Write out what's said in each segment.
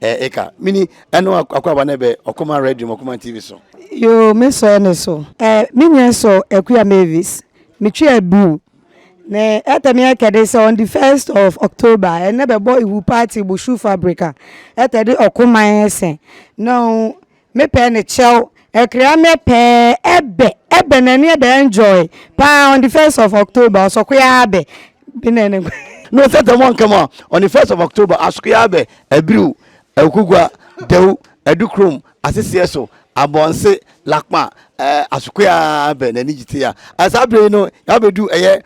Eh eka mini ɛno akɔaba na ɛbɛ ɔkoma radio ma ɔkoma TV so. Yoo me sɔ ɛne so. Eh me nua sɔ akuya Mavis me twi abiw ne ɛtɛ me ɛkɛ de sɛ on the first of October ɛnɛ bɛ bɔ iwu party bushu fabrica ɛtɛ de ɔkoman ɛsɛ na ɔn Me pɛ ne kyɛw ɛkra me pɛɛ ɛbɛ ɛbɛ na neɛ bɛ enjoy paa on the first of October ɔsɔkoyaa abɛ bi na ne nkwa. No sɛ tɛm ɔnkɛ mo a on the first of October asokoyaa abɛ abiriw Awukogua, Dawu, Adukrom, Aseseɛ so, Abɔnse, Lakpa ɛɛ asokoyaa abɛ na ani gye te ya. Saa bere yi no yɛabɛdu ɛyɛ.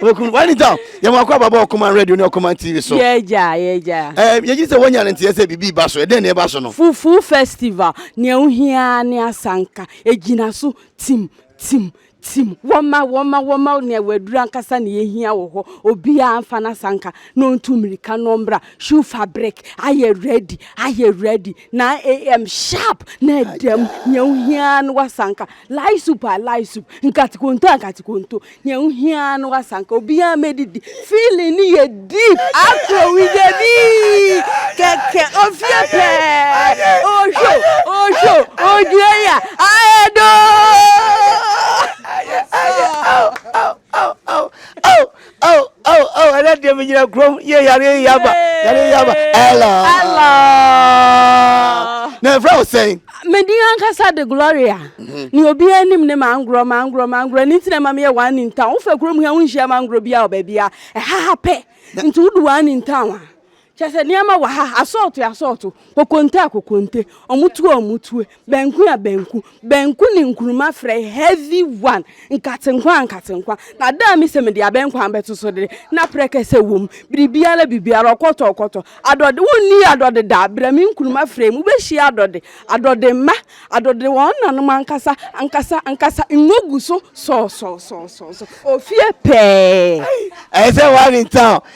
okunu wani ta yɛ mo akɔ ababa ɔkoma radio ne ɔkoma tv so. yɛ gya yɛ gya. ɛɛ yɛ gyi sɛ wɔnya ne nteɛ sɛ bibi ba so ɛdɛn na ɛba so no. fufu festival nea ohia ne asanka egyina so tim tim tim wɔma wɔma wɔma nea waduru ankasa na yɛhia wɔ hɔ obiara nfa n'asanka na ɔntu mmirika na ɔmmra shoe fabric ayɛ ready ayɛ ready na am sharp na ɛdam nea ohia no wasanka lai soup a lai soup nkatikonto a nkatikonto Nea wohia ara ne w'asanka. Obiara mmedidi. Feeling no yɛ deep. Afro with the beat. Kɛkɛ ofie pɛɛ. Osho, osho, ogyina ya. Aedo. Ɛnɛ deɛ megyina kurom yɛ yare yaba. Yare yaba. Hello. Hello. Na ɛfrɛ wo sɛn? me din ankasa de Gloria mhm. ne obiara anim ne mangorɔ mangorɔ mangorɔ ne nti na ɛma meyɛ one in town wofɛ kurom ha wonhyia mangorɔ biara wɔ baabi a ɛha ha pɛ nti wode one in town a kyɛ sɛ nneɛma wɔ ha asɔɔto asɔɔto kokonte a kokonte ɔmotue a ɔmotue banku a banku banku ne nkuruma frɛ heavy one Nkate-nkwa, nkate-nkwa, na da a mise mede abɛnkwa bɛto so de, na prɛkɛsɛ wom, biribiara, biribiara, ɔkɔtɔ, ɔkɔtɔ, adɔde, wonni adɔde da, brɛ me nkuruma frɛ mu, wobɛhyia adɔde, adɔde mma, adɔde wɔn nanom ankasa, ankasa, ankasa, ngo gu so sɔɔsɔɔsɔɔsɔɔ, ofie pɛɛ. Ɛyɛ sɛ one in town.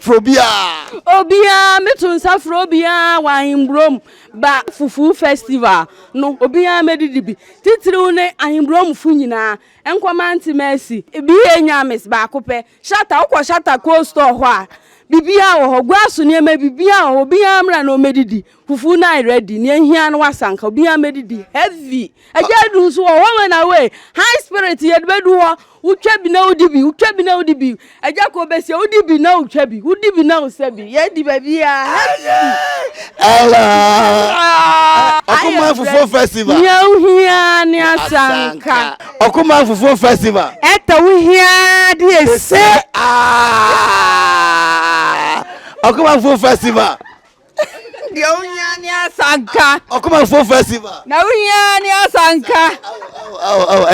Frɛ obiara. Obiara, meto nsa frɛ obiara wɔ Ahenburom ba Fufu Festival no, obiara mmɛdidi bi, titiriw ne Ahenburomfo nyinaa, nkɔ Mante Mercy. BA Nyames, baako pɛ. Shatta, wokɔ Shatta Cold Store hɔ a, biribiara wɔ hɔ. Guaso nneɛma, biribiara wɔ hɔ, obiara mmra na ommɛdidi. Fufu na ready nea ehia no wasa nka obi a medidi heavy ɛgya adu nso wɔ hɔ wei na wei high spirit yɛde bɛdu hɔ wotwa bi na wodi bi wotwa bi na wodi bi ɛgya kɔ bɛsia wodi bi na wotwa bi wodi bi na wosɛ bi yɛdi baabi a heavy Ɔkoma Fufuo Festival nea wohia ne asanka Ɔkoma Fufuo Festival ɛtɛ wohia de ɛsɛ Ɔkoma Fufuo Festival Deɛ wohia ne asanka. Ɔkomafoɔ festival. Na wohia ne asanka.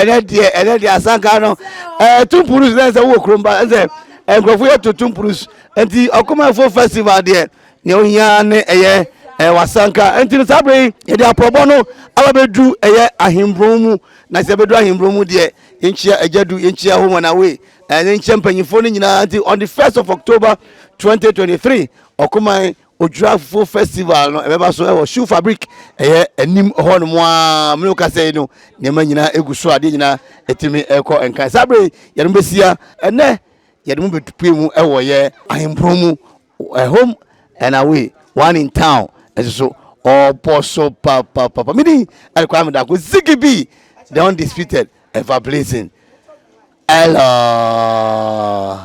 Ɛnɛ deɛ ɛnɛ deɛ asanka no ɛɛ tumpurus na ɛsɛ wowɔ kurom ba ɛsɛ nkurɔfoɔ yɛ to tumpurus nti ɔkomafoɔ festival deɛ nea wohia ne ɛyɛ ɛɛ wasanka nti no saa bere yi yɛde apɔbɔ no aba bɛduru ɛyɛ ahemburom mu na sɛ bɛduru ahemburom mu deɛ yɛnkyia agya du yɛnkyia home and away ɛne nkyia mpanyinfoɔ no nyinaa nti on the first of October 2023 Ɔkoman Odwira Fufuo Festival no ɛbɛba so wɔ Shoe Fabric ɛyɛ anim hɔ nom a mene wokasa yi no nneɛma nyinaa ɛgu so adeɛ nyinaa ɛtumi ɛkɔ nkan saa berɛ yɛde mo bɛsia ɛnɛ yɛde mo bɛpue mu ɛwɔ yɛ ahempron mu home and away one in town ɛso so ɔbɔ so papapapa medi ɛkwa medako ziggy b the undisputed ever blazing hello